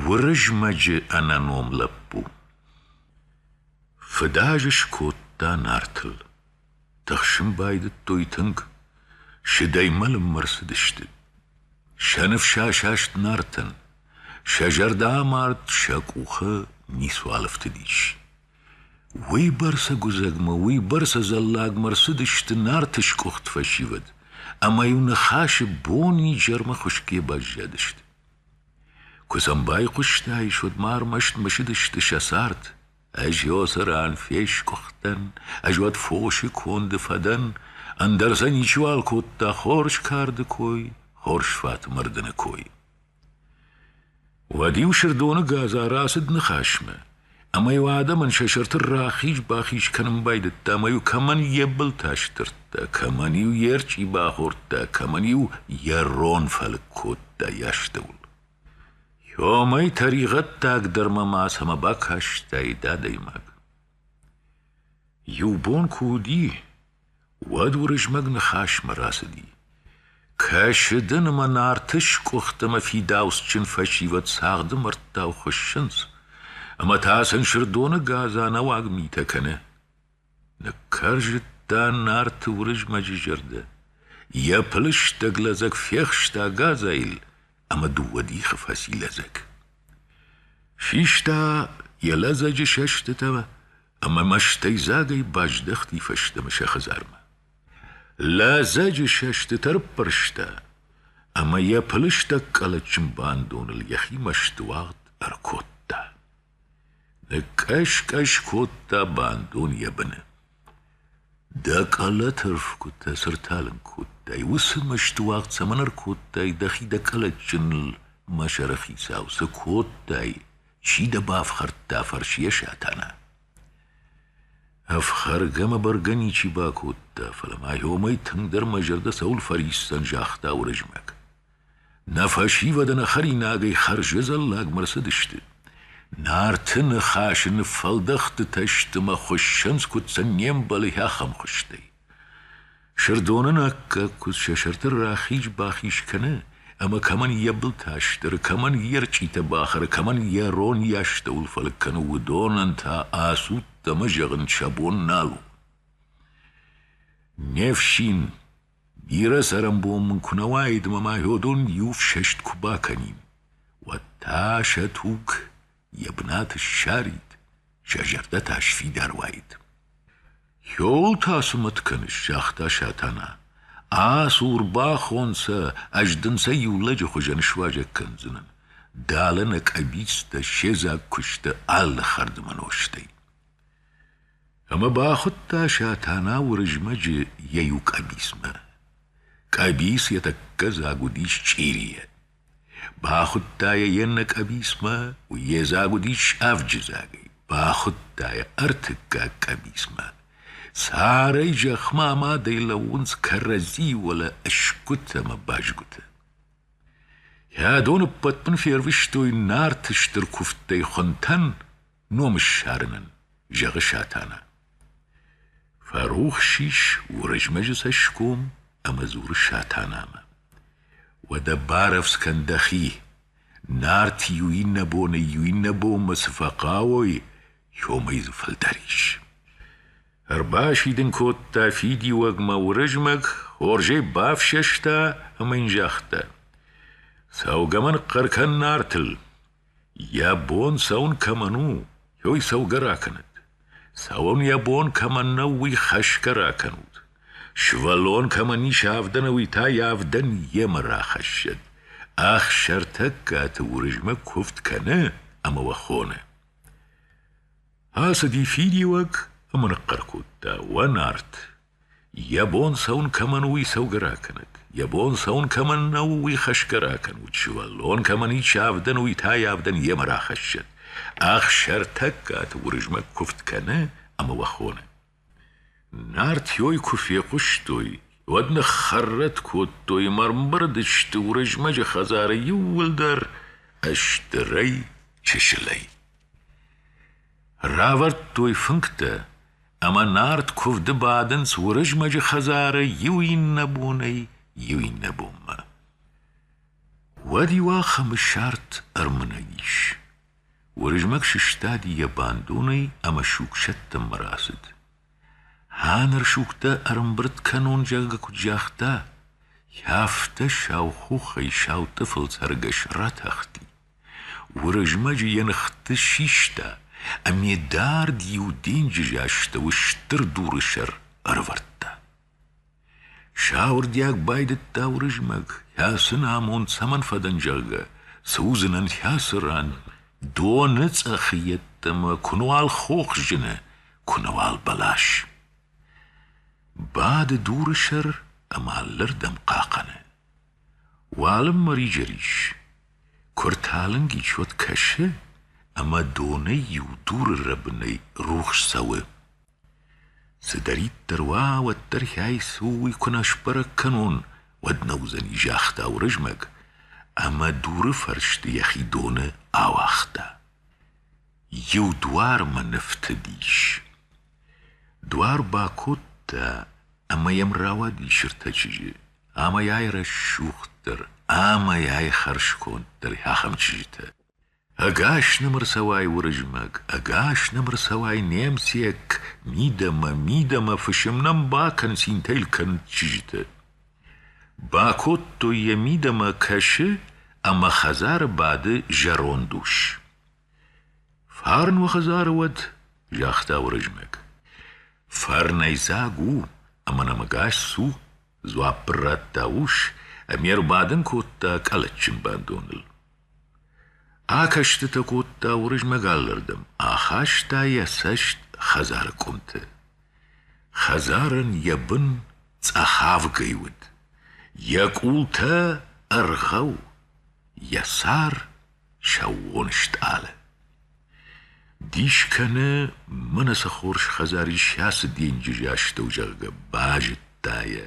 Уырызмӕджы ӕнӕном лӕппу фыдаз скодта Нартыл. Тыхсын байдыдтой тынг, сыдӕй мӕлынмӕ рцыдысты. Сӕ ныфс асаст Нартӕн, сӕ зӕрдӕ амард, сӕ къухы ницуал ӕфтыдис. Уыйбӕрцӕ гуыдзӕгмӕ, уыйбӕрцӕ зӕллагмӕ рцыдысты Нарты скъуыхт фӕсивӕд, ӕмӕ-иу ныхасы бон-изӕрмӕ хуысгӕ баззадысты. Куы сӕм байхъуыстаис, уӕд ма ӕрмӕст мысыдысты сӕ цард. Ӕз ёсӕ ран фескъуыхтӕн, ӕз уӕд фосы конды фӕдӕн, ӕндӕр сӕ ничиуал кодта хорз карды кой, хорз фаты мырдыны кой. Уӕд-иу Сырдоны гадза рацыд ныхасмӕ, ӕмӕ-иу адӕмӕн сӕ сӕрты рахиз-бахиз кӕнын байдыдта ӕмӕ-иу кӕмӕн йӕ былтӕ сдырдта, кӕмӕн-иу йе рчъи бахордта, кӕмӕн-иу йӕ рон фӕлыг кодта йӕ астӕуыл. Йомӕй тӕригъӕддаг дӕр ма мацӕмӕ бакастаид адӕймаг. Иу бон куы уыди, Уӕд Уырызмӕг ныхасмӕ рацыди. Кӕсы дын ӕмӕ Нарты скъуыхт ӕмӕ фидауцджын фӕсивӕд цагъды мӕрдтау хуыссынц, ӕмӕ та сын Сырдоны гадза нӕуӕг митӕ кӕны. Ныккӕрзыдта Нарты Уырызмӕджы зӕрдӕ, йӕ пылыстӕг лӕдзӕг фехста гадзайыл ӕмӕ дыууӕ дихы фӕци лӕдзӕг. Систа йӕ лӕдзӕджы сӕстытӕ ӕмӕ мӕстӕйдзагӕй баздӕхти фӕстӕмӕ сӕ хӕдзармӕ. Лӕдзӕджы сӕстыты ӕрппӕрста ӕмӕ йӕ пылыстӕг къӕлӕтджын бандоныл йӕхи мӕстыуагъд ӕркодта. Ныккӕс-кӕс кодта бандон йӕ быны. Дӕ къӕлӕты рфгуытӕ цы рталынг кодтай, уыцы мӕстыуагъд цӕмӕн ӕркодтай дӕхи дӕ къӕлӕтджыныл, мӕ сӕрыхицау, цы кодтай, Чи дӕ бафхӕрдта? фӕрсы йӕ Сатана. Ӕфхӕргӕ мӕ бӕргӕ ничи бакодта, фӕлӕ ма йомӕй тынгдӕр мӕ зӕрдӕ цӕуыл фӕриссдзӕн, загъта Уырызмӕг. Нӕ фӕсивӕды нӕ хӕринагӕй хӕрзы зӕллагмӕ рцыдысты. Нарты ныхасы ныффӕлдӕхтытӕ сты мӕ хуыссынц, куыд сын не мбӕлы ахӕм хуызтӕй. Сырдон ын аккаг куыдз сӕ сӕрты рахиз-бахиз кӕны, ӕмӕ кӕмӕн йӕ былтӕ стыры, кӕмӕн йе рчъитӕ бахӕры, кӕмӕн йӕ рон йӕ астӕуыл фӕлыг кӕны, уыдонӕн та ацудт ӕмӕ зӕгъын сӕ бон нал у. Не фсин, бирӕ цӕрӕнбон мын куы нӕ уаид ӕмӕ ма йодон иу фсӕст куы бакӕнин, уӕд та сӕ туг йӕ бынат ссарид, сӕ зӕрдӕ та сфидар уаид. «Йеуыл та цы мӕт кӕныс?» — загъта Сатана. «Асур бахон сӕ, ӕз дын сӕ иу лӕджы хуызӕн суазӕг кӕндзынӕн. Далӕ нӕ къӕбицтӕ, се дзаг куысты алы хӕрдмӕ нозтӕй». Ӕмӕ бахуыдта Сатана Уырызмӕджы йӕ иу къӕбицмӕ. Къӕбиц йӕ тӕккӕ дзаг уыдис чъирийӕ, Бахуыдта йӕ йе ннӕ къӕбицмӕ, йе дзаг уыдис авджы дзагӕй. Бахуыдта йӕ ӕртыккаг къӕбицмӕ. Царӕй зӕхмӕ амадӕй лӕууынц кӕрӕдзи уӕлӕ ӕсгуытӕ ӕмӕ бӕзгуытӕ. Йӕ доны ппӕтбын фервыстой Нарты стыр куывдтӕй хуынтӕн ном ссарынӕн, зӕгъы Сатана. Фӕрухс ис Уырызмӕджы цӕсгом ӕмӕ дзуры Сатанамӕ. Уӕдӕ барӕвдз кӕн дӕхи. Нарт иу иннӕ боны иу иннӕ бонмӕ цы фӕхъӕуой, иомӕй дзы фылдӕр ис. Ӕрбасидын кодта фидиуӕгмӕ Уырызмӕг, хорзӕй бафсӕста ӕмӕ йын загъта. Цӕугӕ мӕн хъӕр кӕн Нартыл, Йӕ бон цӕуын кӕмӕн у, уый цӕугӕ ракӕнӕд. Цӕуын йӕ бон кӕмӕн нӕу, уый хӕсгӕ ракӕнут. Сывӕллон кӕмӕн ис авдӕн ӕви та йӕ авдӕн йемӕ рахӕссӕд. Ӕхсӕртӕггаты Уырызмӕг куывд кӕны ӕмӕ уӕ хоны. Ацыди фидиуӕг ӕмӕ ныхъхъӕр кодта: «Уӕ нарт! Йӕ бон цӕуын кӕмӕн у, уый цӕугӕ ракӕнӕд, йӕ бон цӕуын кӕмӕн нӕу, уый хӕсгӕ ракӕнут, сывӕллон кӕмӕн исчи авдӕн уый та йӕ авдӕн йемӕ рахӕссӕд. Ӕхсӕртӕггаты Уырызмӕг куывд кӕны ӕмӕ уӕ хоны. Нартӕй куы фехъуыстой, уӕд ныххӕррӕтт кодтой ӕмӕ ӕрмбырдысты Уырызмӕджы хӕдзары иууылдӕр стырӕй, чысылӕй. Равӕрдтой фынгтӕ, ӕмӕ нард куывды бадынц Уырызмӕджы хӕдзары иу иннӕ бонӕй иу иннӕ бонмӕ. Уӕд-иу ахӕм сӕрд ӕрмынӕг ис. Уырызмӕг сыстади йӕ бандонӕй ӕмӕ сугсӕттынмӕ рацыд. Ханыр сугтӕ ӕрӕмбырд кӕнон, зӕгъгӕ куыд загъта, афтӕ сау хохӕй сау тъыфыл цӕргӕс ратахти. Уырызмӕджы йӕ ныхты систа ӕмӕ дард иу денджызы астӕуы стыр дуры сӕр ӕрӕвӕрдта. Сауырдиаг байдыдта Уырызмӕг, кӕцы нӕ амонд цӕмӕн фӕдӕн, зӕгъгӕ, цы уыдзынӕн кӕцы ран, доны цъӕхы йеддӕмӕ куы нуал хох зыны, куы нуал бӕлас. Бады дуры сӕр ӕмӕ алырдӕм хъахъӕны. Уалынмӕ риджерис, куы ӕрталынг исчуд кӕсы, ӕмӕ донӕй иу дуры рӕбынӕй рухс цӕуы. Цыдӕриддӕр уа, уӕддӕр хӕйцу уый куы нӕ сбӕрӕг кӕнон, уӕд нӕ уыдзӕни, загъта Уырызмӕг ӕмӕ дуры фӕрсты йӕхи доны ауагъта. Иу дуармӕ ныфтыдис. Дуар бакодта ӕмӕ йӕм рауадис ӕртӕ чызджы, Амӕй ай рӕсугъддӕр ӕмӕй ай хӕрзконддӕр ахӕм чызджытӕ. Ӕгас нӕм ӕрцӕуай Уырызмӕг, ӕгас нӕм ӕрцӕуай немыцйаг, мидӕмӕ, мидӕмӕ фысым нӕм бакӕн, цинтӕ йыл кӕн чызджыты. Бакодтой йӕ мидӕмӕ кӕсы ӕмӕ хӕдзары бады зӕронд ус. Фарн уӕ хӕдзары уӕд, загъта Уырызмӕг. Фӕрнӕйдзаг у ӕмӕ нӕмыгас цу, дзуапп ын радта ус ӕмӕ ӕрбадын кодта къӕлӕтджын бандоныл. Акӕстытӕ кодта Уырызмӕг алырдӕм, ахаста йӕ цӕст хӕдзары къуымты. Хӕдзарӕн йӕ бын цъӕхавгӕй уыд, йӕ къултӕ ӕргъӕу, йӕ сӕр сӕууон стъалы. Дис кӕны, мӕнӕ цы хорз хӕдзар ис ацы денджызы астӕу, зӕгъгӕ, базыдта йӕ,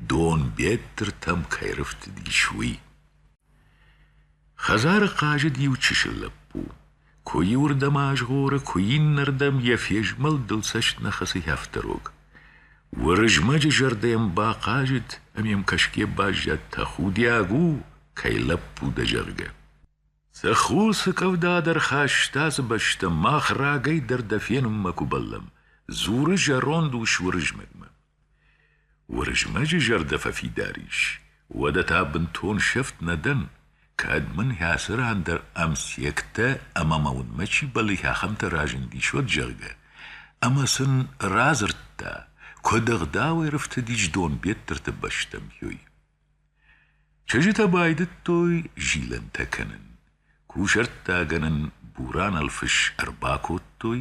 донбеттыртӕм кӕй рыфтыдис, уый. Хӕдзары хъазыд иу чысыл лӕппу. Куы иуырдӕм азгъоры, куы иннӕрдӕм йӕ фезмӕлдыл цӕст нӕ хӕцы хӕфтӕрог. Уырызмӕджы зӕрдӕ йӕм бахъазыд, ӕмӕ йӕм кӕсгӕ баззад, тӕхудиаг у, кӕй лӕппу дӕ, зӕгъгӕ. Цы ху, цы къӕвда дӕр хаста ацы бӕстӕ, мах рагӕй дӕр дӕ фенынмӕ куы бӕллӕм, дзуры зӕронд ус Уырызмӕгмӕ. Уырызмӕджы зӕрдӕ фӕфидар ис, уӕдӕ та бынтон сӕфт нӕ дӕн, кӕд мын хӕцы ран дӕр ӕмсектӕ ӕмӕ мӕ уынмӕ чи бӕллы, ахӕмтӕ разындис, уӕд, зӕгъгӕ. Ӕмӕ сын радзырдта, куыд ӕгъдауӕй рыфтыдис Донбеттырты бӕстӕм, ёй. Чызджытӕ байдыдтой зилӕнтӕ кӕнын. Кусӕрттагӕнӕн бурӕнӕлфыс ӕрбакодтой,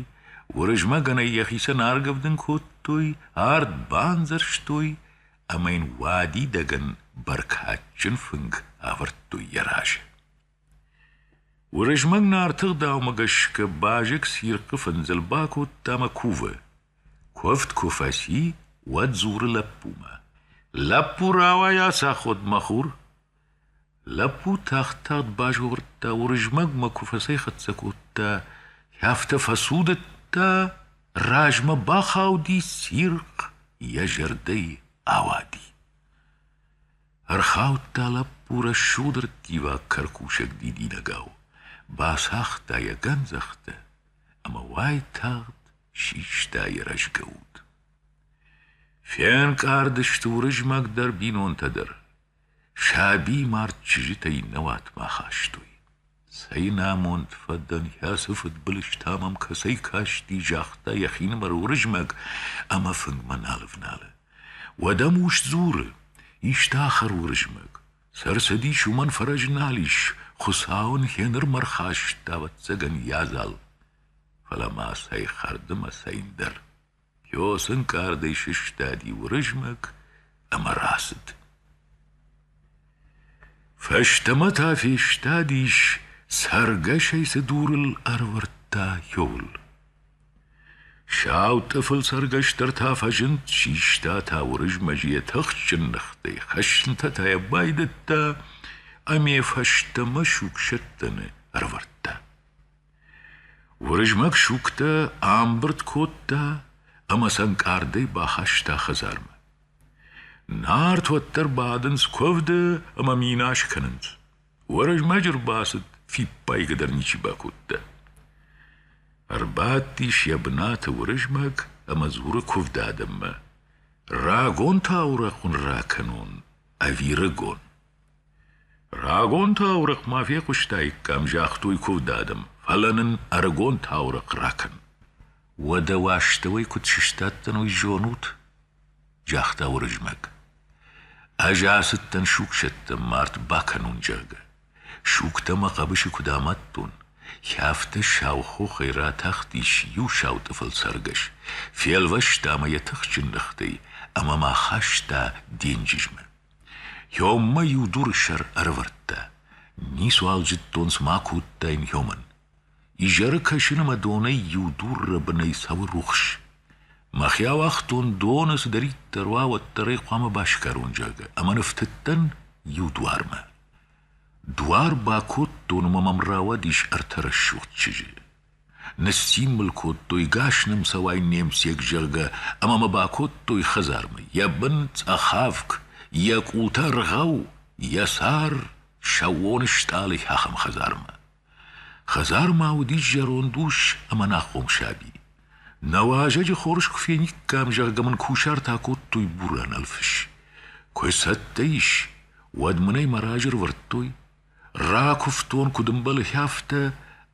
Уырызмӕгӕнӕй йӕхицӕн аргӕвдын кодтой, ард бандзӕрстой ӕмӕ йын уадидӕгӕн бӕркадджын фынг авӕрдтой йӕ разы. Уырызмӕг Нарты гъдаумӕ гӕсгӕ базыг цирхъы фындзыл бакодта ӕмӕ кувы. Куывд куы фӕци, уӕд дзуры лӕппумӕ: «Лӕппу, рауай ацаходмӕ хур!» Лӕппу тагъд-тагъд базгъордта, Уырызмӕгмӕ куы фӕцӕйхӕццӕ кодта, афтӕ фӕцудыдта, размӕ бахауди цирхъ, йӕ зӕрдӕйы ауади. Ӕрхаудта лӕппу рӕсугъд рттиваг кӕркусӕг дидинӕгау, бацагъта йӕ гӕндзӕхтӕ ӕмӕ уайтагъд систа йӕ рӕзгӕ уд. Фенкъард сты Уырызмӕг дӕр бинонтӕ дӕр, саби мард чызджытӕй нӕ уатмӕ ахастой. Цӕйн амонд фӕдӕн, ацы фыдбылызтӕ мӕм кӕцӕй касти, загъта йӕхинымӕр Уырызмӕг ӕмӕ фынгмӕ нал ӕвналы. Уӕдӕ ус дзуры: «Исты ахӕр, Уырызмӕг! Цы ӕрцыдис, уымӕн фӕрӕз нал ис, Хуыцау ын гъенырмӕ ӕрхаста, ӕвӕццӕгӕн, йӕ адзал. Фӕлӕ ма цӕй хӕрды мӕ цӕйн дӕр!» Йос ӕнкъардӕй сыстади Уырызмӕг ӕмӕ рацыд. Фӕстӕмӕ та фестадис, цӕргӕсӕй цы дурыл ӕрӕвӕрдта йол. Сау тъыфыл цӕргӕстӕр та фӕзынд, систа та Уырызмӕджы йӕ тыхджын ныхтӕй, хӕснытӕ та йӕ байдыдта ӕмӕ фӕстӕмӕ сугсӕттӕны ӕрӕвӕрдта. Уырызмӕг сугтӕ амбырд кодта ӕмӕ сӕ ӕнкъардӕй бахаста хӕдзармӕ. Нарт уӕддӕр бадынц куывды ӕмӕ минас кӕнынц. Уырызмӕджы рбацыд фиппайгӕдӕр ничи бакодта. Ӕрбадтис йӕ бынаты Уырызмӕг ӕмӕ дзуры куывды адӕммӕ: «Рагон таурӕхъ уын ракӕнон, ӕви рыгон?» Рагон таурӕгъ ма фехъуыстаиккам, загътой куывд адӕм, фӕлӕ нын ӕрыгон таурӕгъ ракӕн. Уӕдӕ уӕ астӕуӕй куыд сыстадтӕн, уый зонут? загъта Уырызмӕг. Ӕз ацыдтӕн сугсӕттӕн мард бакӕнон, зӕгъгӕ. Сугтӕ мӕ хъӕбысы куыд амадтон. Хӕфтӕ сау хохӕй ратахтис иу сау тъыфыл цӕргӕс, фелвӕста мӕ йӕ тыхджын ныхтӕй ӕмӕ мӕ хаста денджызмӕ. Ёммӕ иу дуры сӕр ӕрӕвӕрдта. Ницуал зыдтон, цыма кодтаин ёмӕн. Изӕры кӕсыны мӕ донӕй иу дурры бынӕй цӕуы рухс. Мӕхи ауагътон, доны цыдӕриддӕр уа, уӕддӕр ӕй хъуамӕ басгарон, зӕгъгӕ, ӕмӕ ныфтыдтӕн иу дуармӕ. Дуар бакодтон ӕмӕ мӕм рауадис ӕртӕ рӕсугъд чызджы. Ныссцин мыл кодтой, гас нӕм цӕуай не мцег, зӕгъгӕ, ӕмӕ мӕ бакодтой хӕдзармӕ. Йӕ бын цъӕхавк, йӕ къултӕ ргъӕу, йӕ сӕр сӕууон стъалыйы ахӕм хӕдзармӕ. Хӕдзармӕ уыдис зӕронд ус ӕмӕ нӕхъом саби. Нӕ уазӕджы хорз куы фениккам, зӕгъгӕ мын кусартӕ кодтой бурӕнӕлфыс. Куы цӕттӕ ис, уӕд мын ӕй мӕ разы рывӕрдтой. Ракуывтон куыд ӕмбӕлы, афтӕ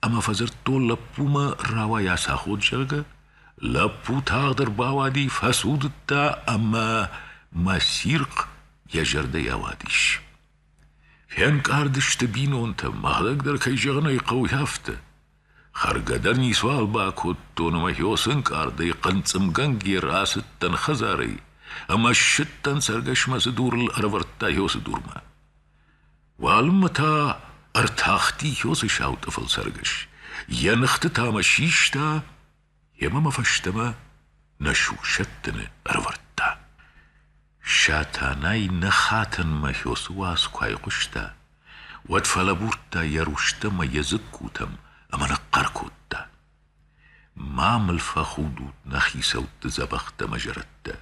ӕмӕ фӕдзырдтон лӕппумӕ, рауайа сӕ ход, зӕгъгӕ. Лӕппу тагъд ӕрбауади, фӕцудыдта ӕмӕ мӕ цирхъ йӕ зӕрдӕйӕ ауадис. Фенкъард сты бинонтӕ, мӕлӕг кӕй зӕгъын ӕй хъӕуы, афтӕ. Хӕргӕ дӕр ницуал бакодтон, ӕмӕ хьоцынкъардӕй хъынцъымгӕнгӕ рацыдтӕн хӕдзарӕй ӕмӕ ссыдтӕн цӕргӕсмӕ цы дурыл ӕрӕвӕрдта хьоцы дурмӕ. Уалынмӕ та ӕртахти Хьоцы сау тъыфыл цӕргӕс, йӕ ныхты та мӕ систа ӕмӕ мӕ фӕстӕмӕ нӕ сусӕттыны ӕрӕвӕрдта. Сатанай нӕ хатӕнмӕ Хьоцы уац куы айхъуыста, уӕд фӕлӕбурдта йӕ рустӕм мӕ йӕ дзыккутӕм ӕмӕ ныхъхъӕр кодта: Ма мыл фӕхудут нӕ хицӕутты дзӕбӕхтӕ мӕ зӕрӕдтӕ,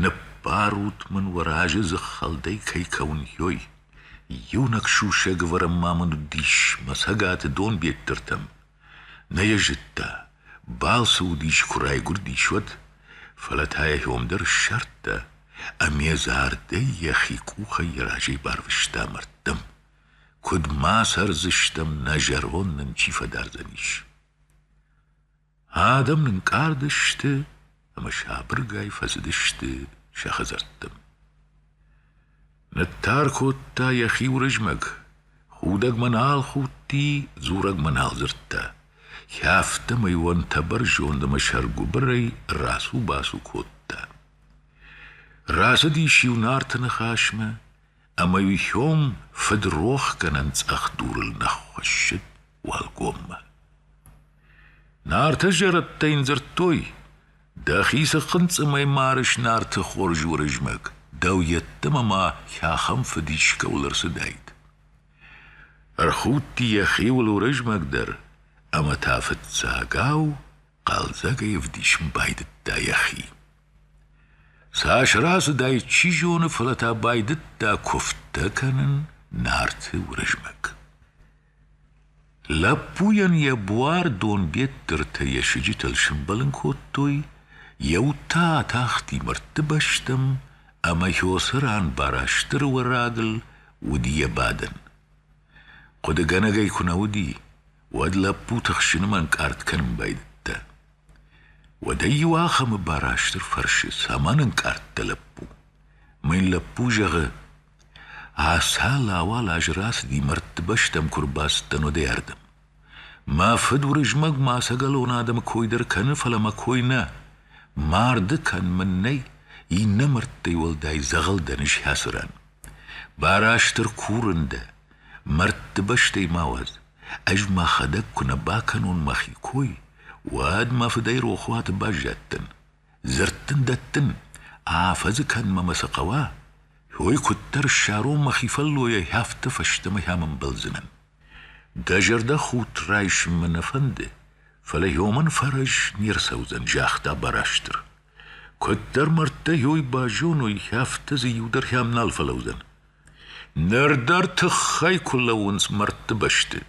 Ныббарут мын уӕ разы дзыххӕлдӕй кӕй кӕуын, йой! Иунӕг сусӕг вӕрӕн ма мын уыдис мӕ цӕгаты донбеттыртӕм. Нӕ йӕ зыдта, балцы уыдис куы райгуырдис, уӕд, фӕлӕ та йӕ ном дӕр ссардта, ӕмӕ зардӕй йӕхи къухӕй йӕ разӕй барвыста мӕрдтӕм. Куыд ма цӕрдзыстӕм, нӕ зӕронд нын чи фӕдардзӕнис? Адӕм нынкъард сты ӕмӕ сабыргай фӕцыдысты сӕ хӕдзӕрттӕм. Ныттар кодта йӕхи Уырызмӕг, худӕгмӕ нал худти, дзурӕгмӕ нал дзырдта. Кӕфтӕмӕй уӕнтӕбӕр зонд ӕмӕ сӕргуыбырӕй рацу-бацу кодта. Рацыдис-иу Нарты ныхасмӕ, ӕмӕ-иу сём фыдрохгӕнӕн цъӕх дурыл нӕ ххуӕссыд уӕлгоммӕ. Нартӕ зӕрӕдтӕ йын дзырдтой, дӕхи цы хъынцъымӕй марыс Нарты хорз Уырызмӕг, дӕу йеддӕмӕ ма хӕхӕм фыд искӕуыл ӕрцыдаид. Ӕрхудти йӕхиуыл Уырызмӕг дӕр, ӕмӕ та фыццагау хъӕлдзӕгӕй ӕвдисын байдыдта йӕхи. Цас рацыдаид, чи зоны, фӕлӕ та байдыдта куывдтӕ кӕнын Нарты Уырызмӕг. Лӕппуйӕн йӕ буар донбеттыртӕ йӕ сыджытыл сымбӕлын кодтой, йӕ уд та атахти мӕрдты бӕстӕм, ӕмӕ Хёсы ран бара стыр уӕрагыл уыди йӕ бадӕн. Хъуыдыгӕнӕгӕй куы нӕ уыди, уӕд лӕппу тыхсыны ӕнкъард кӕнын байдыдта. Уӕдӕ иу ахӕмы Барастыр фӕрсы, цӕмӕн ӕнкъард дӕ лӕппу? Мӕн лӕппу зӕгъы: Ацал-ауал азы рацыди, мӕрдты бӕстӕм куы рбацыдтӕн, уӕдӕй ардӕм. Мӕ фыд уырызмӕгмӕ ӕцӕгӕлон адӕмы кой дӕр кӕны, фӕлӕ мӕ кой нӕ. Марды кӕн мын нӕй, иннӕ мӕрдтӕй уӕлдай дзӕгъӕл дӕ нызхӕцы ран. Барастыр курын дӕ, Мӕрдты бӕстӕй ма уӕд, ӕз мӕхӕдӕг куы нӕ бакӕнон мӕхи кой, уӕд мӕ фыдӕй рохуаты баззадтӕн. Дзырдтын, дӕттын, афӕдзы кӕнынмӕ мӕ цы хъӕуа, уый куыддӕр ссарон мӕхи фӕллойӕй, афтӕ фӕстӕмӕ ам ӕмбӕлдзынӕн. Дӕ зӕрдӕхудт райсын мӕ нӕ фӕнды, фӕлӕ иомӕн фӕрӕз не рцӕудзӕн, загъта Барастыр. Куыддӕр мӕрдтӕ йой базоной, афтӕ дзы иу дӕр хӕм нал фӕлӕудзӕн. Ныр дӕр тыххӕй куы лӕууынц мӕрдты бӕсты,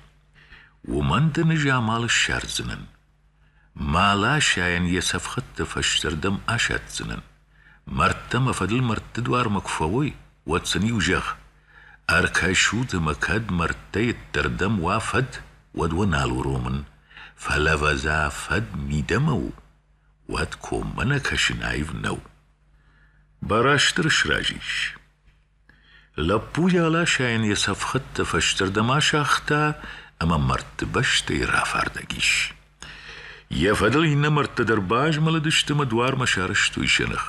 уымӕн дын ӕз амал ссардзынӕн. Маласӕйӕн йӕ цӕфхӕдтӕ фӕстӕрдӕм асӕтдзынӕн. Мӕрдтӕ мӕ фӕдыл мӕрдты дуармӕ куы фӕуой, уӕд сын-иу зӕгъ, ӕркӕсут ӕмӕ кӕд мӕрдтӕй ӕддӕрдӕм уа фӕд, уӕд уӕ нал уромын, фӕлӕ вӕза фӕд мидӕмӕ у, уӕд коммӕ нӕ кӕсын аив нӕу. Барастыр сразы ис. Лӕппуйы аласайӕн йӕ цӕф хӕдтӕ фӕстӕрдӕм асагъта ӕмӕ мӕрдты бӕстӕй рафардӕг ис. Йӕ фӕдыл иннӕ мӕрдтӕ дӕр базмӕлыдысты ӕмӕ дуармӕ сарӕзтой сӕ ных.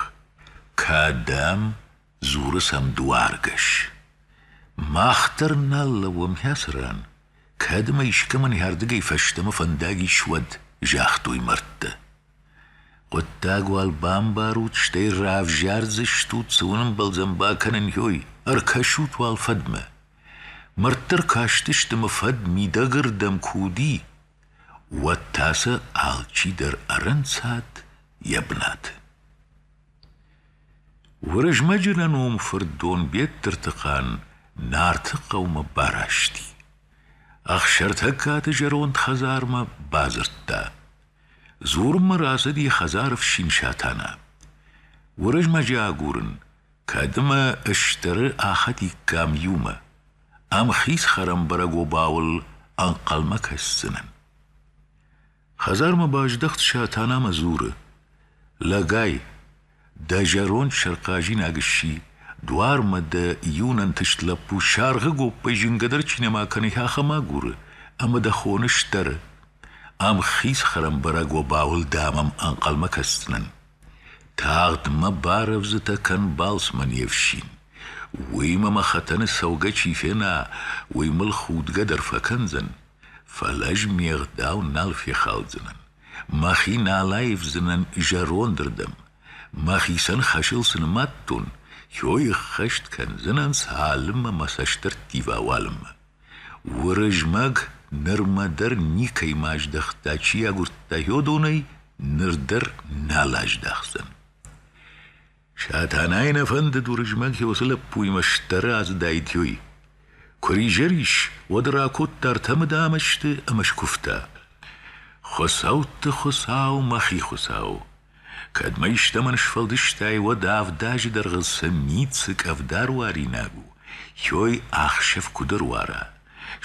«Кӕдӕм?» — дзуры сӕм дуаргӕс. «Мах дӕр нал лӕууӕм хӕцы ран. кӕд ӕмӕ искӕмӕн йӕ ардыгӕй фӕстӕмӕ фӕндаг ис, уӕд», — загътой мӕрдтӕ. Хъуыддаг уал бамбарут, стӕй равзардзыстут, цы уын ӕмбӕлдзӕн бакӕнын, ой, ӕркӕсут уал фӕдмӕ. Мӕрдтӕ ркастысты мӕ фӕд мидӕгырдӕм куы уыди, уӕд та сӕ алчидӕр ӕрӕнцад йӕ бынаты. Уырызмӕджы нӕном фырт Донбеттыртыхъан Нарты хъӕумӕ барасти. Ӕхсӕртӕггаты зӕронд хӕдзармӕ бадзырдта. Дзурынмӕ рацыди хӕдзары фсин Сатана. Уырызмӕджы агурын, кӕд ӕмӕ стӕры ахӕдиккам иумӕ, ам хиз хӕрӕмбӕрӕг обауыл ӕнхъӕлмӕ кӕсдзынӕн. Хӕдзармӕ баздӕхт Сатана ӕмӕ дзуры: Лӕгай, Дӕ зӕронд сӕрхъазинаг сси, дуармӕ дӕ иу нӕнтыст лӕппу саргъы гоппӕй зынгӕдӕр чи нӕма кӕны, ахӕм агуры, ӕмӕ дӕ хоны сдӕры. Ам хиз хӕрӕмбӕрӕг обауыл дӕ мӕм ӕнхъӕлмӕ кӕсдзынӕн. Тагъд мӕ барӕвдзытӕ кӕн балцмӕ не фсин. Уый мӕ мӕ хӕтӕны цӕугӕ чи фена, уый мыл худгӕ дӕр фӕкӕндзӕн, фӕлӕ ӕз ме гъдау нал фехалдзынӕн. Мӕхи нал аивдзынӕн зӕрондырдӕм, мӕхицӕн хӕсыл цы нымадтон, йой ӕххӕст кӕндзынӕн цалынмӕ мӕ цӕстӕрттива уалынмӕ. Уырызмӕг нырмӕ дӕр никӕйма аздӕхта, чи агуырдта йодонӕй, ныр дӕр нал аздахдзӕн. Сатанайы нӕ фӕндыд Уырызмӕг уыцы лӕппуимӕ стӕры ацыдаитӕй. Куы ризӕр ис, уӕд ракодта ӕртӕ мыдамӕсты ӕмӕ скуывта. Хуыцӕутты Хуыцау, мӕхи Хуыцау! Кӕд мӕ истӕмӕн сфӕлдыстай, уӕд авд азы дӕргъы цы ницы къӕвда руаринаг у, ёй ӕхсӕв куыд ӕруара?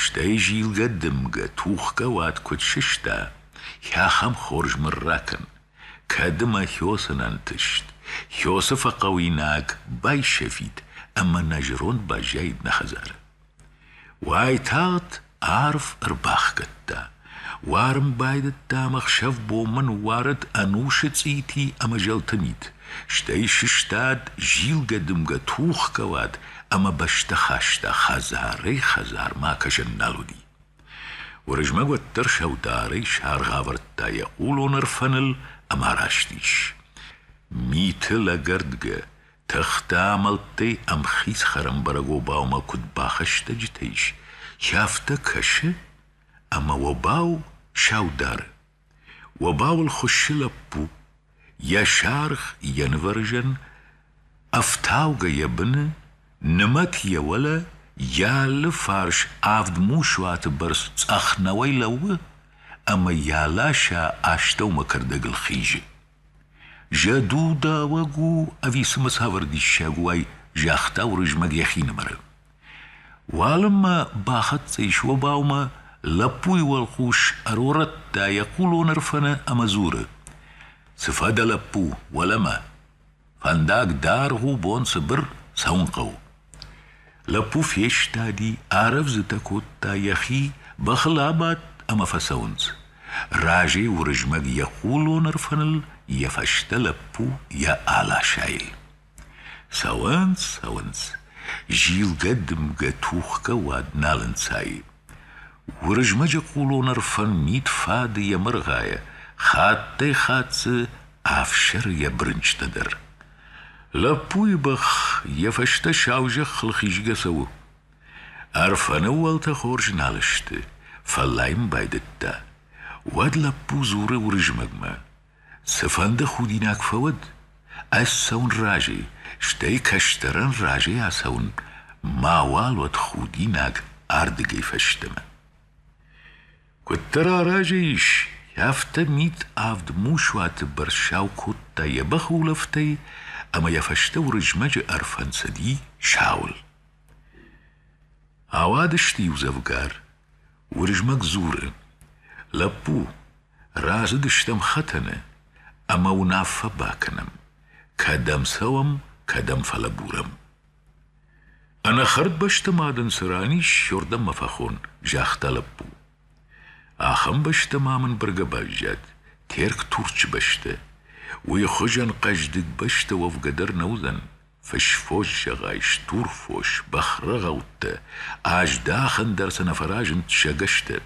Стӕй зилгӕ-дымгӕ, тухгӕ уат куыд сыста, йӕ ахӕм хорз мын ракӕн, Кӕд мӕ Хёсын ӕнтыст, Хёсы фӕхъӕуинаг байсӕфид ӕмӕ нӕ зӕронд баззаид нӕ хӕдзары. Уайтагъд арв ӕрбахгӕдта. Уарын байдыдта ӕмӕ ӕхсӕв-бонмӕ ныууарыд ӕнусы цъити ӕмӕ зӕлты мит, стӕй сыстад, зилгӕ-дымгӕ тухгӕ уад ӕмӕ бӕстӕ хаста хӕдзарӕй-хӕдзармӕ акӕсӕн нал уыди. Уырызмӕг уӕддӕр сӕударӕй саргъ авӕрдта йӕ хъулон ӕрфӕныл ӕмӕ раст ис. Миты лӕгӕрдгӕ, тыхтӕ амӕлттӕй ӕмхиц хӕрӕмбӕрӕг обаумӕ куыд бахӕстӕджытӕ ис, сӕ афтӕ кӕсы, ӕмӕ обау саудары. Уобауыл хуыссы лӕппу, йӕ саргъ йӕ нывӕрзӕн, ӕфтаугӕ йӕ быны, нымӕт йӕ уӕлӕ, йӕ алы фарс авд мусуаты бӕрц цъӕх нӕуӕй лӕууы ӕмӕ йӕ ласӕ астӕумӕ кӕрдӕгыл хизы. Зӕдудауӕг у ӕви цымӕ цавӕр диссаг у, ай? загъта Уырызмӕг йӕхинымӕры. Уалынмӕ бахӕццӕ ис обаумӕ, лӕппуйы уӕлхъус ӕрорӕдта йӕ хъулон Ӕрфӕны ӕмӕ дзуры: «Цы фӕдӕ, лӕппу, уӕлӕмӕ? Фӕндаг даргъ у, бон цыбыр, цӕуын хъӕуы». Лӕппу фестади, арӕвдзытӕ кодта йӕхи, бӕхыл абадт ӕмӕ фӕцӕуынц. Разӕй Уырызмӕг йӕ хъулон Ӕрфӕныл, йӕ фӕстӕ лӕппу йӕ аласайыл. Цӕуынц, цӕуынц, зилгӕ-дымгӕ тухгӕ уад нал ӕнцайы. Уырызмӕджы хъулон ӕрфӕн мит фады йӕ мыргъайӕ, хаттӕй-хатт дзы ӕфсӕры йӕ брынчътӕ дӕр. Лӕппуйы бӕх йӕ фӕстӕ саузӕххыл хизгӕ цӕуы. Ӕрфӕны уӕлтӕ хорз нал сты, фӕллайын байдыдта. Уӕд лӕппу дзуры Уырызмӕгмӕ: Цыфӕнды худинаг фӕуӕд, ӕз цӕуын разы, стӕй кӕстӕрӕн разӕй ацӕуын, мауал уӕд худинаг ардыгӕй фӕстӕмӕ. Куыддӕр аразы ис, афтӕ мит авд мусуаты бӕрц сау кодта йӕ бӕхы улӕфтӕй ӕмӕ йӕ фӕстӕ Уырызмӕджы ӕрфӕнцади сауыл. Ауадысты иудзӕвгар Уырызмӕг дзуры: «Лӕппу, разыдыстӕм хӕтӕны ӕмӕ уынаффӕ бакӕнӕм: кӕдӕм цӕуӕм, кӕдӕм фӕлӕбурӕм. Ӕнӕ хӕрдбӕсты ма дын цы ран ис, уырдӕм ма фӕхон», — загъта лӕппу. Ахӕм бӕстӕ ма мын быргӕ баззад, Терк-Турчы бӕстӕ. Уый хуызӕн хъӕздыг бӕстӕ уӕвгӕ дӕр нӕ уыдзӕн, Фысфос зӕгъай, стур фос, бӕхрӕгъӕуттӕ, аздахӕн дӕр сӕ нӕ фӕразынд сагӕстӕ.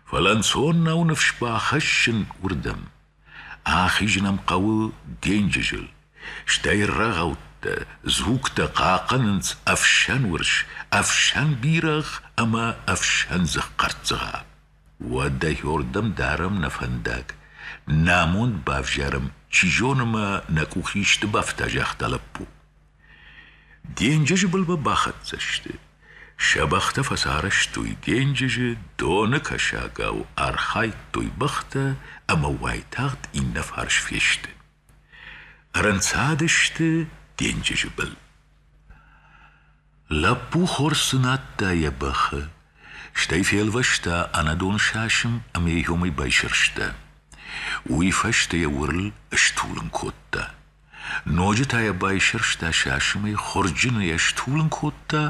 Фӕлӕ ӕнцон нӕу ныфс бахӕссын уырдӕм. Ахизын ӕм хъӕуы денджызыл, стӕй рӕгъӕуттӕ, дзугтӕ хъахъхъӕнынц ӕфсӕн урс, ӕфсӕн бирӕгъ ӕмӕ ӕфсӕн дзыхъхъӕрццыгъа. Уӕд дӕхиуырдӕм дарӕм нӕ фӕндаг, нӕ амонд бавзарӕм, чи зоны ма нӕ къух исты бафта, загъта лӕппу. Денджызы былмӕ бахӕццӕ сты. Сӕ бӕхтӕ фӕцарӕзтой денджызы, доны кӕсагау архайдтой бӕхтӕ ӕмӕ уайтагъд иннӕ фарс фесты. Ӕрӕнцад сты денджызы был. Лӕппу хорз надта йӕ бӕхы, стӕй фелвӕста ӕнӕдон сасын ӕмӕ йӕ иомӕй байсӕрста. Уый фӕстӕ йӕ уырл стулын кодта. Ноджы та йӕ байсӕрста сасымӕй, хуырджын ӕй стулын кодта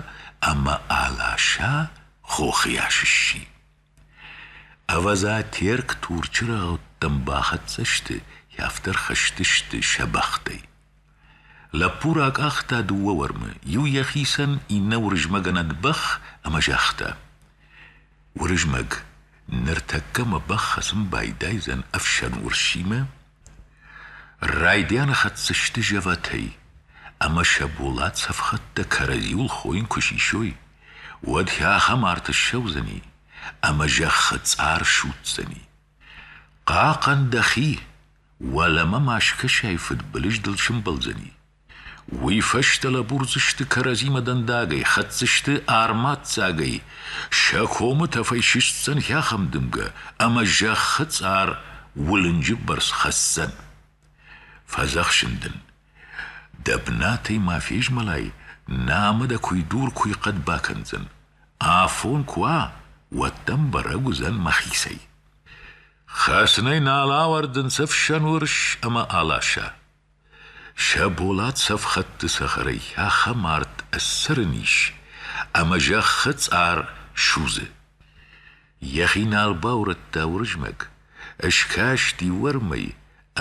ӕмӕ аласа хохы йас сси. Ӕвӕдза, Терк Турчы рӕгъӕуттӕм бахӕццӕ сты, йӕ афтӕ рхызтысты сӕ бӕхтӕй. Лӕппу ракъахта дыууӕ уӕрмы, иу йӕхицӕн, иннӕ Уырызмӕгӕнӕг бӕх ӕмӕ загъта: «Уырызмӕг, ныртӕккӕ мӕ бӕх хӕцын байдайдзӕн ӕфсӕн урсимӕ, Райдианы хӕццӕ сты зӕвӕтӕй, ӕмӕ сӕ болат цӕфхӕдтӕ кӕрӕдзиуыл хойын куы сисой, уӕд сӕ ахӕм арт ссӕудзӕни, ӕмӕ зӕххы цъар судздзӕни. Хъахъӕн дӕхи, уӕлӕмӕ ма скӕсай фыдбылыз дыл сымбӕлдзӕни. Уый фӕстӕ лӕбурдзысты кӕрӕдзимӕ дӕндагӕй, хӕцдзысты армаццагӕй, сӕ комы тӕфӕй сыстдзӕн хӕхӕм дымгӕ ӕмӕ зӕххы цъар уылынджы бӕрц хӕцдзӕн. Фӕдзӕхсын дын: дӕ бынатӕй ма фезмӕлай, намӕ дӕ куй дур-куй хъӕд бакӕндзӕн. Афон куы уа, уӕд дӕм бӕрӕг уыдзӕн мӕхицӕй. Хӕцынӕй нал ауӕрдынц ӕфсӕн уырыс ӕмӕ аласа. Сӕ болат цӕфхӕдты цӕхӕрӕй ахӕм арт ӕссӕрын ис, ӕмӕ зӕххы цъар судзы. Йӕхи нал баурӕдта Уырызмӕг, скасти уӕрмӕй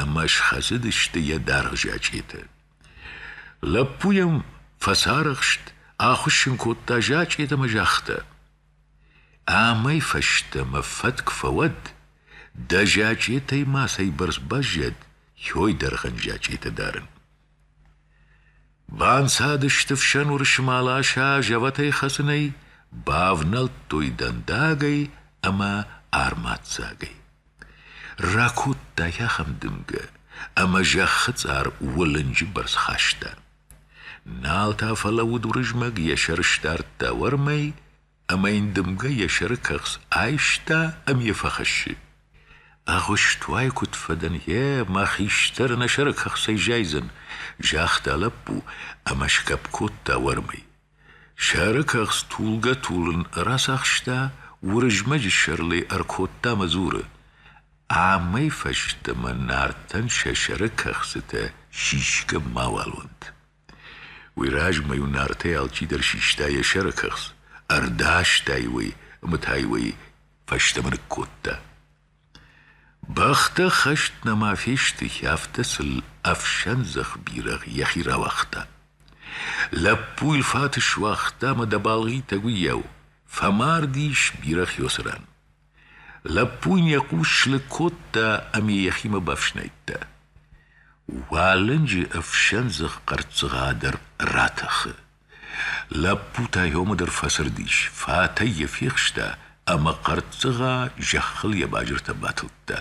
ӕмӕ схӕцыдысты йӕ дӕргъ зачъетӕ. Лӕппу йӕм фӕцарӕхст, ахуыссын кодта зачъет ӕмӕ загъта: Амӕй фӕстӕмӕ фӕтк фӕуӕд, дӕ зачъетӕй мацӕйбӕрц баззад йой дӕргъӕн зачъетӕ дарын. Банцадысты фсӕн уырысы маласа зӕвӕтӕй хӕцынӕй, бавнӕлдтой дӕндагӕй ӕмӕ армаццагӕй. Ракодта йӕ ахӕм дымгӕ, ӕмӕ зӕххы цъар уылынджы бӕрц хаста. Нал та фӕлӕууыд Уырызмӕг йӕ сӕр сдардта уӕрмӕй, ӕмӕ йын дымгӕ йӕ сӕры кӕхц айста ӕмӕ йӕ фӕхӕссы. Агъуыстуай куыд фӕдӕн, гъе, мӕ хистӕр нӕ сӕры кӕхцӕй зайдзӕн, загъта лӕппу ӕмӕ сгӕпп кодта уӕрмӕй. Сӕрыкӕхц тулгӕ-тулын рацахста, Уырызмӕджы сӕрыл ӕй ӕркодта мӕ дзуры: Амӕй фӕстӕмӕ Нартӕн сӕ сӕрыкӕхцытӕ сисгӕ мауал уӕнт. Уый размӕ-иу Нартӕй алчидӕр систа йӕ сӕрыкӕхц, ӕрдаста-иу ӕй ӕмӕ та-иу ӕй фӕстӕмӕ ныккодта. Бӕхтӕ хӕст нӕма фестыхи, афтӕ сыл ӕфсӕндзӕх бирӕгъ йӕхи рауагъта. Лӕппу йыл фат суагъта ӕмӕ дӕ балгъитӕг уыйау фӕмард ис бирӕгъ Йосырӕн. Лӕппу йын йӕ хъус слыг кодта ӕмӕ йӕхимӕ бафснайдта. Уалынджы ӕфсӕндзӕх хъӕрццыгъа дӕр ратӕхы. Лӕппу та йомӕ дӕр фӕцырдис, фатӕй йӕ фехста ӕмӕ хъӕрццыгъа зӕххыл йӕ базыртӕ батылдта.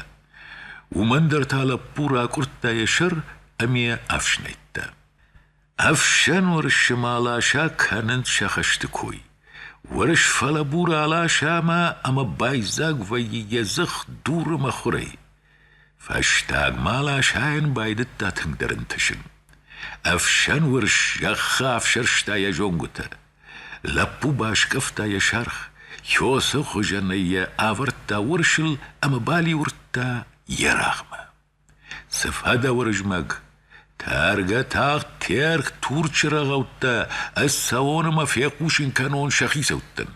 Уымӕн дӕр та лӕппу ракъуырдта йӕ сӕр ӕмӕ афснайдта. Ӕфсӕн уӕрсмӕ аласа кӕнынц сӕ хӕсты кой. Уӕрс фӕлӕбур аласа ӕмӕ ӕмӕ байдзаг вӕййы йӕ дзых дуры мӕхуырӕй. Фӕстагмӕ ласайӕн байдыдта тынгдӕр ӕнтысын. Ӕфсӕн уырс зӕххы афсӕрста йӕ зонгуытӕ. Лӕппу баскъӕфта йӕ саргъ, Йосы хуызӕнӕй йӕ авӕрдта уырсыл ӕмӕ балиуырдта йе рагъмӕ. Цы фӕдӕ, Уырызмӕг? Тӕргӕ тагъд Терк Турчы рӕгъӕуттӕ, ӕз цӕуон ӕмӕ фехъусын кӕнон сӕ хицӕуттӕн.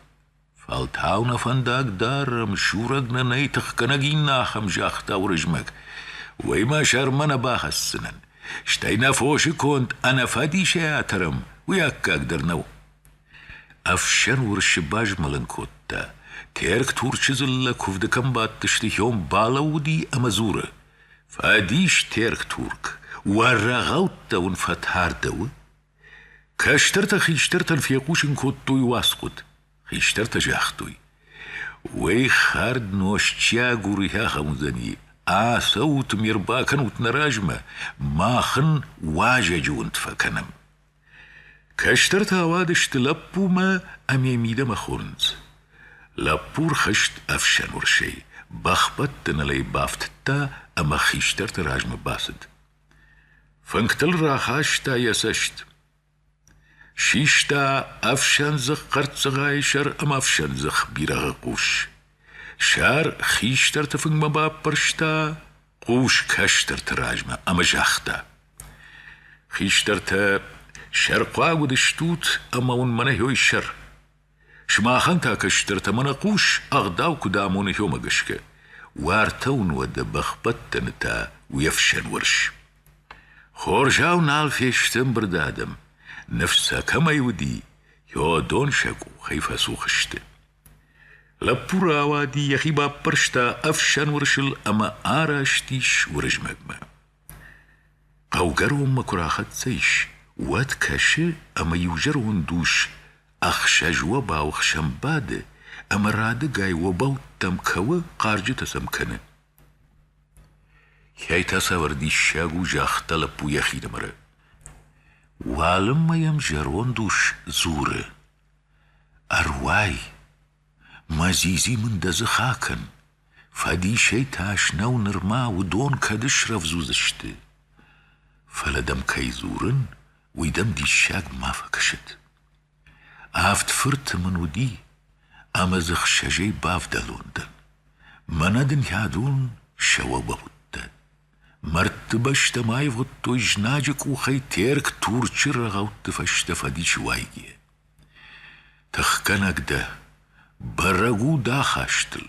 Фӕлтау нӕ фӕндаг дарӕм, сурӕг нӕ нӕй, тыхгӕнӕг иннӕ ахӕм, загъта Уырызмӕг. Уый мӕ сӕрмӕ нӕ бахӕсдзынӕн. Стӕй нӕ фосы конд ӕнӕфӕдисӕй атӕрӕм, уый аккаг дӕр нӕу. Ӕфсӕн уырсы базмӕлын кодта. Терк Турчы дзыллӕ куывды кӕм бадтысты, Хьом балӕууыди ӕмӕ дзуры: «Фӕдис, Терк Турк, уӕ рӕгъӕуттӕ уын фӕтардӕуы?» Кӕстӕртӕ хистӕртӕн фехъусын кодтой уацхъуыд. Хистӕртӕ загътой: «Уый хӕрд нозтчиаг уырыхӕй ахӕм уыдзӕни. Ацӕут ме рбакӕнут нӕ размӕ, мах ын уазӕджы уынд фӕкӕнӕм». Кӕстӕртӕ ауадысты лӕппумӕ ӕмӕ мидӕмӕ хонынц. Лӕппу рхызт ӕфсӕнуырсӕй, бӕхбӕттӕныл ӕй бафтыдта ӕмӕ хистӕрты размӕ бацыд. Фынгтыл рахаста йӕ цӕст. Систа ӕфсӕндзых хъӕрццыгъайы сӕр ӕмӕ ӕфсӕндзых бирӕгъы хъус. Сӕр хистӕрты фынгмӕ баппӕрста, хъус кӕстӕрты размӕ ӕмӕ загъта: «Хистӕртӕ, сӕрхъуаг уыдыстут ӕмӕ уын мӕнӕ йой сӕр. Сымахӕн та, кӕстӕртӕ, мӕнӕ хъус, ӕгъдау куыд амоны хьомӕ гӕсгӕ. уартӕ уын уӕдӕ бӕхбӕттӕны та уе фсӕн уӕрс. Хорзау нал фесты ӕмбырды адӕм, ныфс сӕ кӕмӕй уыди, хьодон сӕ къухӕй фӕцух сты. Лӕппу рауади, йӕхи баппӕрста ӕфсӕн уырсыл ӕмӕ араст ис Уырызмӕгмӕ. Хъӕугӕронмӕ куы рахӕццӕ ис, уӕд кӕсы, ӕмӕ иузӕронд ус ӕхсӕз-уобау хсӕн бады ӕмӕ радыгай обӕуттӕм кӕуы, хъарджытӕ сӕм кӕны. Кӕй та цавӕр диссаг у, загъта лӕппу йӕхинымӕры. Уалынмӕ йӕм зӕронд ус дзуры: «Ӕруай, мӕ дзидзи мын дӕ дзых акӕн, Фӕдисӕй тас нӕу нырма, уыдон кӕд ысрӕвдз уыдзысты. Фӕлӕ дӕм кӕй дзурын, уый дӕм диссаг ма фӕкӕсӕд. Авд фырты мын уыди, ӕмӕ дзы хсӕзӕй бавдӕлон дӕн. Мӕнӕ дын хӕдон сӕ уӕ бауыдтӕн. Мӕрдтыбӕстӕ ма ивгъуыдтой знаджы къухӕй Терк Турчы рӕгъӕутты фӕстӕ фӕдисы уайгӕ. Тыхгӕнӕг дӕ, бӕрӕг у дӕ хӕстыл.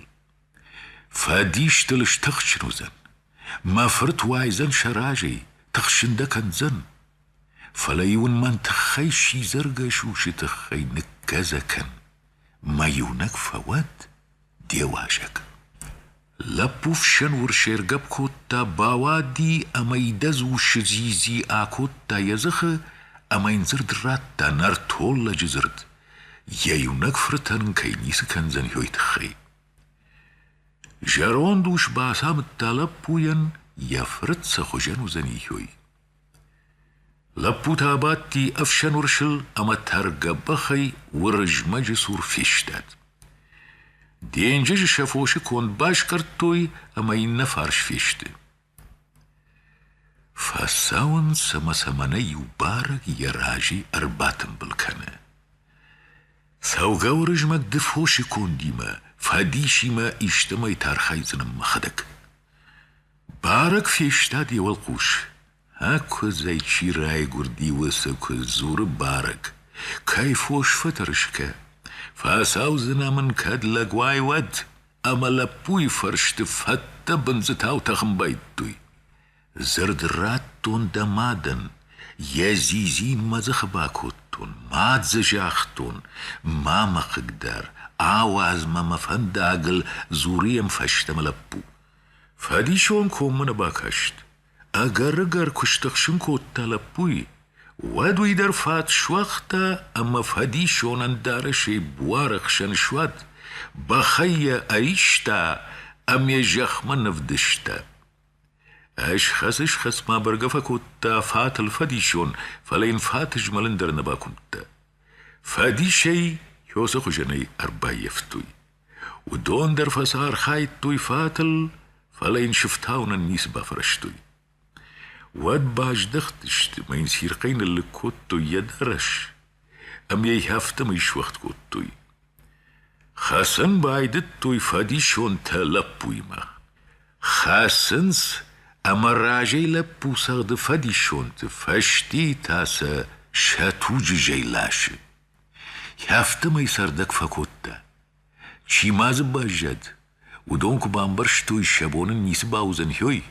Фӕдистыл стыхджын уыдзӕн. Мӕ фырт уайдзӕн сӕ разӕй, тыхсын дӕ кӕндзӕн. Фӕлӕ-иу ын мӕн тыххӕй сидзӕргӕ сусы тыххӕй ныккӕдзӕ кӕн. Мӕ иунӕг фӕуӕд де уазӕг. Лӕппу фсӕнур сӕргӕпп кодта, бауади ӕмӕ идӕдз усы дзидзи акодта йӕ дзыхы ӕмӕ йын дзырд радта нӕртоллӕджы дзырд, йӕ иунӕг фыртӕн ын кӕй ницы кӕндзӕн йой тыххӕй. Зӕронд ус бацамыдта лӕппуйӕн, йӕ фырт сӕ хуызӕн уыдзӕни йой. Лӕппу та абадти ӕфсӕн уырсыл ӕмӕ тӕргӕ-бӕхӕй Уырызмӕджы цур фестад. Денджызы сӕ фосы конд баскъӕрдтой ӕмӕ иннӕ фарс фесты. Фӕцӕуынц ӕмӕ сӕ мӕнӕ иу барӕг йӕ разӕй ӕрбатымбыл кӕны. Цӕугӕ Уырызмӕг ды фосы кондимӕ, фӕдисимӕ истӕмӕй тӕрхайдзынӕн мӕхӕдӕг. Бӕрӕг фестад йӕ уӕлхъус. Ӕкуыдзӕй чи райгуырди, уыцы куыдз дзуры барӕг. Кӕй фос фӕтӕрсгӕ? Фӕцӕудзынӕ мын кӕд лӕгуӕй, уӕд? Ӕмӕ лӕппуйы фӕрсты фӕдтӕ бындзытау тӕхын байдтой. Дзырд радтон дӕ мадӕн, йӕ дзидзин мӕ дзыхы бакодтон, ма дзы загътон, ма мӕ хъыгдар, ауадз мӕ мӕ фӕндагыл, дзуры йӕм фӕстӕмӕ лӕппу. Фӕдисон коммӕ нӕ бакаст. Ӕгӕр-ӕгӕр куы стыхсын кодта лӕппуйы, уӕд уый дӕр фат суагъта ӕмӕ фӕдисонӕн дарӕсӕй буары хсӕн суад, бӕхӕй йӕ ӕриста ӕмӕ йӕ зӕхмӕ нывдыста. Ысхӕц-ысхӕцмӕ бӕргӕ фӕкодта фатыл фӕдисон, фӕлӕ йын фат ызмӕлын дӕр нӕ бакуымдта. Фӕдисӕй Хёсы хуызӕнӕй ӕрбаййӕфтой. Уыдон дӕр фӕцархайдтой фатыл, фӕлӕ йын сыфтауынӕн ницы бафӕрӕзтой. Уӕд баздӕхтысты мӕ йын цирхъӕй ныллыг кодтой йӕ дарӕс ӕмӕ йӕ афтӕмӕй суӕгъд кодтой. Хӕцын байдыдтой фӕдисонтӕ лӕппуимӕ. Хӕцынц ӕмӕ разӕй лӕппу цӕгъды фӕдисонты, фӕстийы та сӕ сӕ туджы зӕй ласы. Афтӕмӕй цӕрдӕг фӕкодта. Чи ма дзы баззад, уыдон куы бамбӕрстой, сӕ бон ын ницы бауыдзӕн хёй,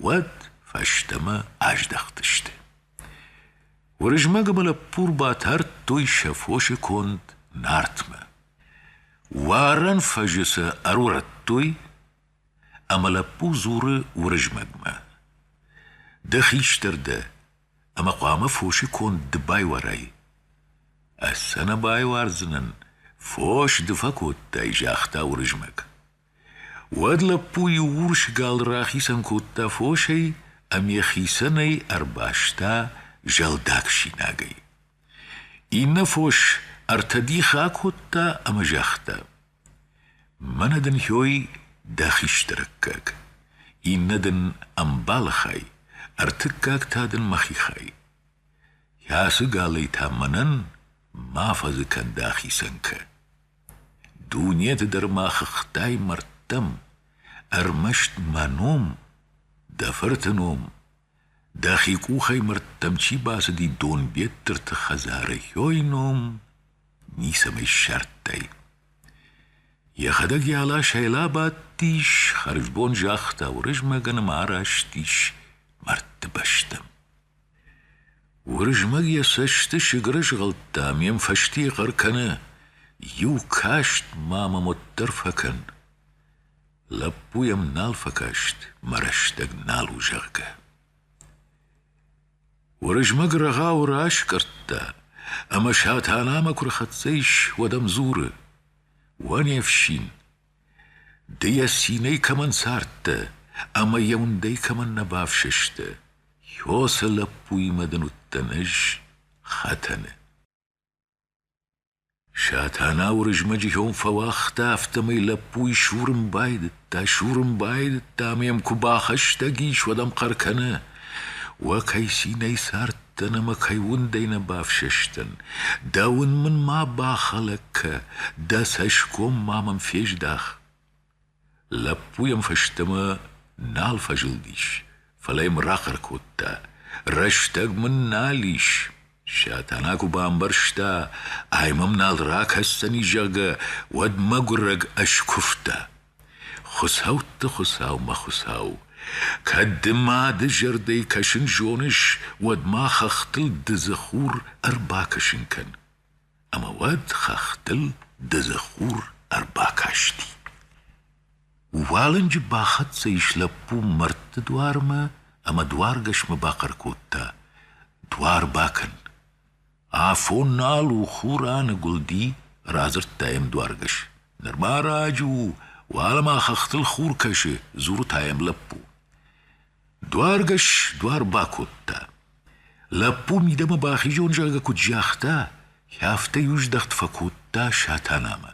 уӕд фӕстӕмӕ аздӕхтысты. Уырызмӕг ӕмӕ лӕппу батардтой сӕ фосы конд Нартмӕ. Уарӕн фӕзы сӕ ӕрурӕдтой, ӕмӕ лӕппу дзуры Уырызмӕгмӕ: «Ды хистӕр дӕ, ӕмӕ хъуамӕ фосы конд ды байуарай. Ӕз сӕ нӕ байуардзынӕн, фос ды фӕкодтай, загъта Уырызмӕг. Уӕд лӕппу иу урс гал рахицӕн кодта фосӕй ӕмӕ хицӕнӕй ӕрбаста зӕлдаг синагӕй. Иннӕ фос ӕртӕ дихы акодта ӕмӕ загъта: Мӕнӕ дын хьой дӕ хистӕрыккаг, иннӕ дын ӕмбалы хай, ӕртыккаг та дын мӕхи хай. Ацы галӕй та мӕнӕн ма фӕзы кӕн дӕ ахицӕнкӕ. Дунеты дӕр ма хыгътай мӕрдтӕм, ӕрмӕст мӕ ном, дӕ фырты ном Дӕхи къухӕй мӕрдтӕм чи бацыди Донбеттырты хӕдзары хёй ном ницӕмӕй ссардтай. Йӕхӕдӕг йӕ аласӕй лабадтис, хӕрзбон загъта Уырызмӕгӕн ӕмӕ араст ис мӕрдты бӕстӕм. Уырызмӕг йӕ цӕсты сыгыры згъӕлдта ӕмӕ йӕм фӕстийӕ хъӕр кӕны: «Иу каст ма мӕм уӕддӕр фӕкӕн!» Лӕппу йӕм нал фӕкаст, мӕ рӕстӕг нал у, зӕгъгӕ. Уырызмӕг рӕгъауы раскъӕрдта, ӕмӕ Сатанамӕ куы рхӕццӕ ис, уӕд ӕм дзуры: «Уӕ не фсин, ды йӕ цинӕй кӕмӕн цардтӕ ӕмӕ йӕ уындӕй кӕмӕн нӕ бафсӕстӕ, йо сӕ лӕппуимӕ дын уыдтӕн ӕз хӕтӕны». Сатана Уырызмӕджы кӕм фӕуагъта, афтӕмӕй лӕппуйы сурын байдыдта, сурын байдыдта ӕмӕ йӕм куы бахӕстӕг ис, уӕд ӕм хъӕр кӕны: «Уӕ кӕй цинӕй цардтӕн ӕмӕ кӕй уындӕй нӕ бафсӕстӕн! Дӕ уын мын ма бахӕлӕг кӕ, дӕ цӕсгом ма мӕм фездах!» Лӕппу йӕм фӕстӕмӕ нал фӕзылдис, фӕлӕ йӕм рахъӕр кодта: «Рӕстӕг мын нал ис!» Сатана куы бамбӕрста, ай мӕм нал ракӕсдзӕни, зӕгъгӕ, уӕд мӕгуырӕг ӕскуывта: «Хуыцӕутты Хуыцау, мӕ Хуыцау, кӕд ды мады зӕрдӕйы кӕсын зоныс, уӕд ма хӕхтыл дыдзы хур ӕрбакӕсын кӕн!» Ӕмӕ уӕд хӕхтыл дыдзы хур ӕрбакасти. Уалынджы бахӕццӕ ис лӕппу мӕрдты дуармӕ ӕмӕ дуаргӕсмӕ бахъӕр кодта: «Дуар бакӕн! Афон нал у, хур аныгуылди!» — радзырдта йӕм дуаргӕс. «Нырма раджы у, уӕлӕ ма хӕхтыл хур кӕсы!» — дзуры та йӕм лӕппу. Дуаргӕс дуар бакодта. Лӕппу мидӕмӕ бахизон зӕгъгӕ куыд загъта, афтӕ иу здӕхт фӕкодта Сатанамӕ.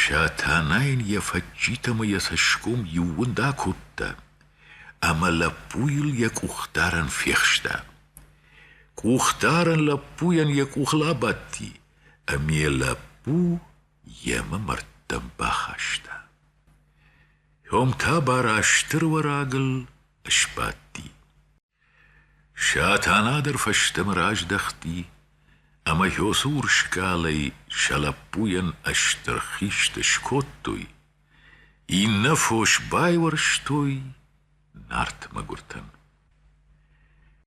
Сатана йын йӕ фӕдджит ӕмӕ йӕ цӕсгом иууынд акодта ӕмӕ лӕппуйыл йӕ къухдарӕн фехста. Къухдарӕн лӕппуйӕн йӕ къухыл абадти, ӕмӕ йӕ лӕппу йемӕ мӕрдтӕм бахаста. Ом та бара стыр уӕрагыл сбадти. Сатана дӕр фӕстӕмӕ раздӕхти ӕмӕ Йосурскъалӕй сӕ лӕппуйӕн стыр хист скодтой, иннӕ фос байуӕрстой Нарт мӕгуыртӕн.